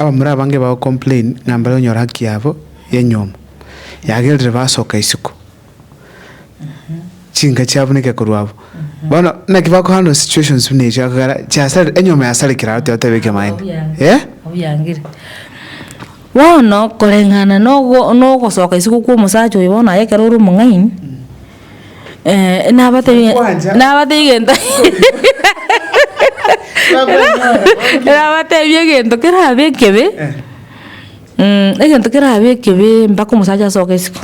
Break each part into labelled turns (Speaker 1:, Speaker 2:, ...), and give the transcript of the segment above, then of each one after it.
Speaker 1: Abamura abange bago complain ng'a mbare gonyora haki yabo y'enyiomo yagerire basoka isiko chinka chiabo ne gekoro abo bono naki bako handle situations buna echi akagera chiasare enyiomo yasarekire aro tigo tebeke maene eh Obiangire.
Speaker 2: Bono koreng'ana nogo nogosoka isiko kwa omosacha oyo bono aye ekero ore omong'aini Eh, nabatebi- Kwanja. nabatebi gento nabatebi egento kerabe ekebe, Eh, mm, egento kerabe ekebe mpaka omosacha asoke isiko.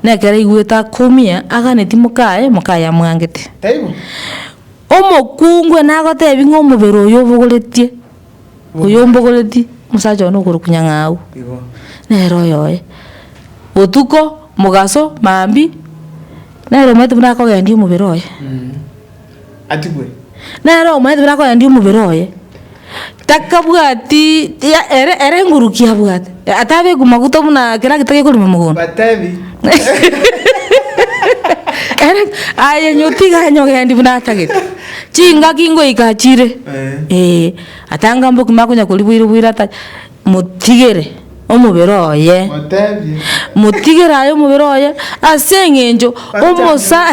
Speaker 2: Nekero aigwete akumia, aganeti mokaye, mokaye amwangete. taibo? Omokungu nagotebi ng'a omobere oyo obogoretie. oyombogoretie omosacha one okorokwa nyang'au, nere oyoye, botuko, mogaso, maambia, nere omanyete buna akogendia omobere oye.
Speaker 1: Nere
Speaker 2: omanyete buna akogendia omobere oye, takabwati tiga ere ere enguruki abwate. Atabeku maguta buna kera gete gekorima mogondo. Batebi. Ere aye nyotiga anyogendi buna atagete. Chingaki ngoika achire. Ee. Atanga mboki makonya kori boire boire ata motigere omobere oye. Motebi.
Speaker 1: Motigere aye
Speaker 2: omobere oye ase eng'encho omosa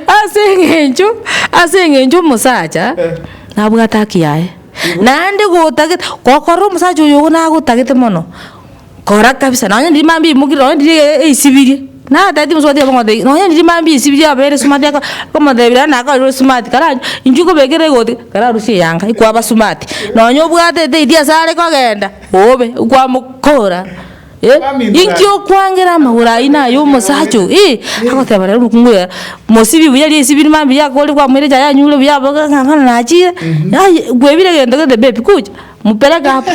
Speaker 2: ase eng'encho ase eng'encho omosacha nabwate haki yaye. Naende gotagete gokorora omosacha oyo ogo nagotagete mono kora kabisa nonye ndiri mambia oimokire nonye ndiri e- e- eisibirie natagete omosuba tiga bamotebie nonye ndiri mambia eisibirie abere smart aka okomotebia naende naye akairwa smart kara intwe kobekera egoti kararusie eyanga ekwaba smart nonye obwate eteiti asare kogenda obe okwamokora. Eh, inki okwangera amagoro aino aya omosacha oyo? Eh, agoteba rero omokungu oye, mosibi buya risibi rire mambia riakoorire kwamoire echae yanyure buya aboke ng'a bono nachire, ai kwebire egento gete bebi kuja, mopereke abwo.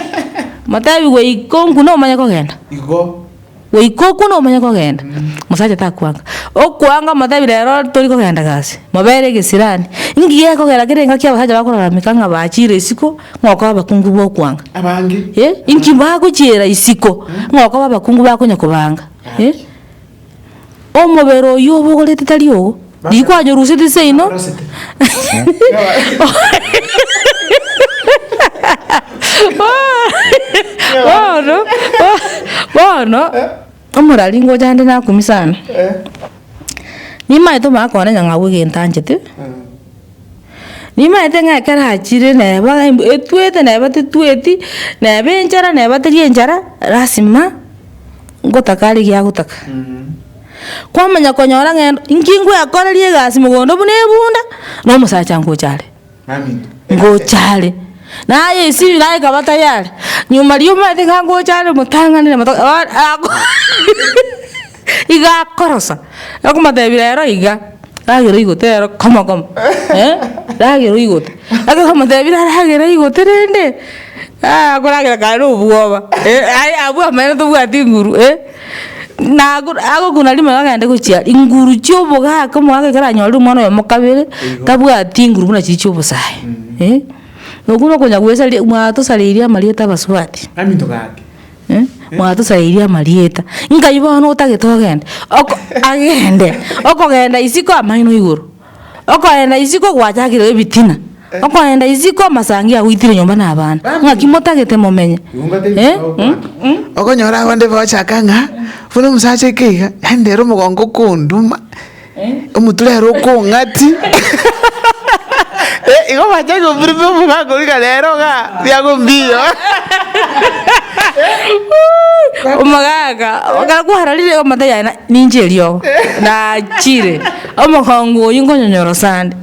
Speaker 2: Motebi goika onkune omanye kogenda. Igo.
Speaker 1: Goika okune
Speaker 2: omanye kogenda. Mosacha takwanga. Okwanga omotebi rero tori kogenda gasi, mobere egesirani. Inki gekogera kere engaki abasacha bakorarameka ng'a bachire isiko. Ng'okoba abakungu b'okwanga. Abange. Eh,
Speaker 1: inki bagochiera
Speaker 2: isiko, ng'okoba abakungu bakonya kobanga. Eh, omobere oyio obogorete tari ogo, riko anyoruseti seino. Bono, bono. Omorari ngocha ande nakumie sana. Nimaete omogaka one ng'a ng'abue egento anchete. Nimaete ng'a ekero achire neba ng'a embu etwete neba tetweti, neba enchara neba teri enchara, lasima ngotaka are egiagotaka. Kwamanya konyora ng'a endo, inki ngwekoreria egasi mogondo buna ebunda, na omosacha ngocha are. ngocha are. Naye esiri naye ekaba tayari, nyuma ri'omaete iga ngocha are motang'anere moto bono ako iga akorosa, okomotebi rero iga, ragera oigote rero koma koma ragera oigote. Ekero omotebi rero ragera oigote rende, akoragera kare na obwoba, aye abwo amaene tobwati nguru. Nago agokunda rimo iga agende gochia inguru chia obogaka omogaka ekero anyorire omwana oyomo kabere tabwati inguru buna chiri chia obosae eh, okwo nokonya goesaria mwatosareirie amarieta abasubati eh, mwatosareirie amarieta nkai bono otagete ogenda oko agende, okogenda isiko amaino igoro. Okorenda isiko gwachakireirwe ebitina, okorenda isiko amasangi agoitire nyomba na abana, ng'aki motagete momenye? Eh, mm.
Speaker 1: Okonyora abande bagochaka ng'a buna omosacha oika iga, yaani rero omogongo okonduma, omotura ere okong'ati eh, igo bachake gofirifiria omogongo iga rero iga biago mbiyo.
Speaker 2: Omogaka, ekero kwarorire iga amato yaye na- ninche eriogo, nachire. Omogongo oyio nkonyonyorosa ande,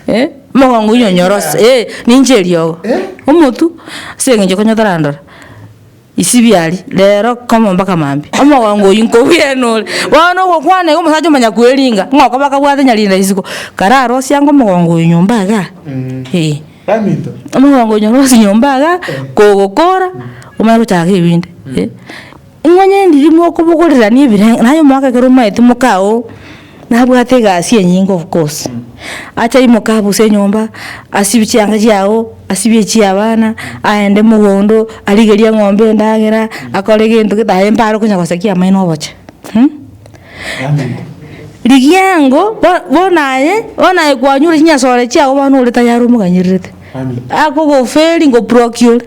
Speaker 2: eh, omogongo oyio nyonyorose, eh, ninche eriogo, omotu, ase eng'encho ekero otarandora, isibia aria, rero komo mpaka maambia, omogongo oyio nkogwenore, bono ogokwana iga omosacha omonyakweringa, ng'a okoba kabwate nyarenda isiko, kara arosie ango omogongo oyio nyomba igaa, eh.
Speaker 1: Omogongo oyio
Speaker 2: nyorosie nyomba igaa, kogokora, omanye gochaka ebinto, eh. Imonyene endirimo okobogorerania ebirengererio, naye omwaka ekero omaete moka oo nabwate egasi enyinge of course, acha aimoke abuse enyomba, asibie chianga chiago, asibie echia abana, aende mogondo, arigerie eng'ombe endagera, akore gento gete aye mbare konya gosakia amaino oboche. Rigia ango, bo- bono aye, bono aye kwanyure chinyasore chiago bono ore tayari omoganyererete, akogoferi ngobroki ore.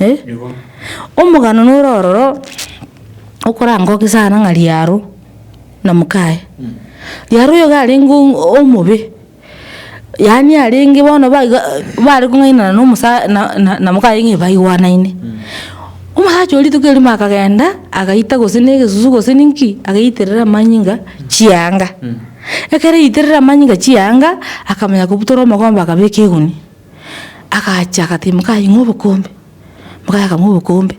Speaker 2: Eh? Omogano nore ororo okorangoke sana ng'a Riaro na mokaye. Riaro oyo iga arenge o- omobe, yaani arenge bono ba iga bare kong'ainana na omosa na- na- na mokaye ng'a baigwanaine. Omosacha oria rituko erimo akagenda agaita gose na egesusu gose na inki, agaiterera amanyinga chianga. Ekero aiterire amanyinga chianga, akamanya kobutora omogomba akabeka egunia. Agacha agatebi mokaye ng'o obokombe, mokaye akang'wa obokombe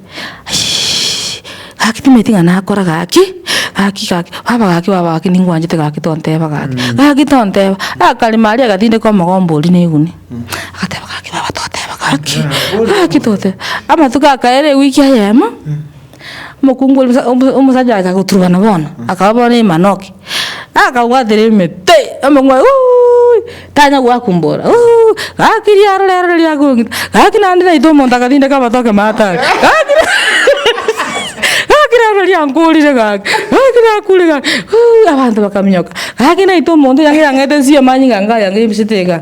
Speaker 2: aishiiish gaki timanyeti ng'a nakora gaki, gaki gaki baba gaki baba gaki ningwanchete gaki tonteba gaki, gaki tonteba, akarimo aria agatindeka omogomba oria na eguni, agateba gaki baba toteba gaki, gaki toteba, amatuko akaera ewiki eyemo. Omokungu oria omo- omosacha oye akagoturubana bono, akaba bono emanoki, akabwatera ime pi, omokungu oye uuiiy, tanya gwakumbora uuiiy, gaki riaro rero riria riakong'ita, gaki naende naitwe omonto akatindeka amatoke matano, gaki gaki rero riankorire gaki, gaki nakuure gaki uuiiy, abanto bakaminyoka, gaki naitwe omonto yang'ira ang'ete nsio amanyinga ngaya ng'ebisete igaa.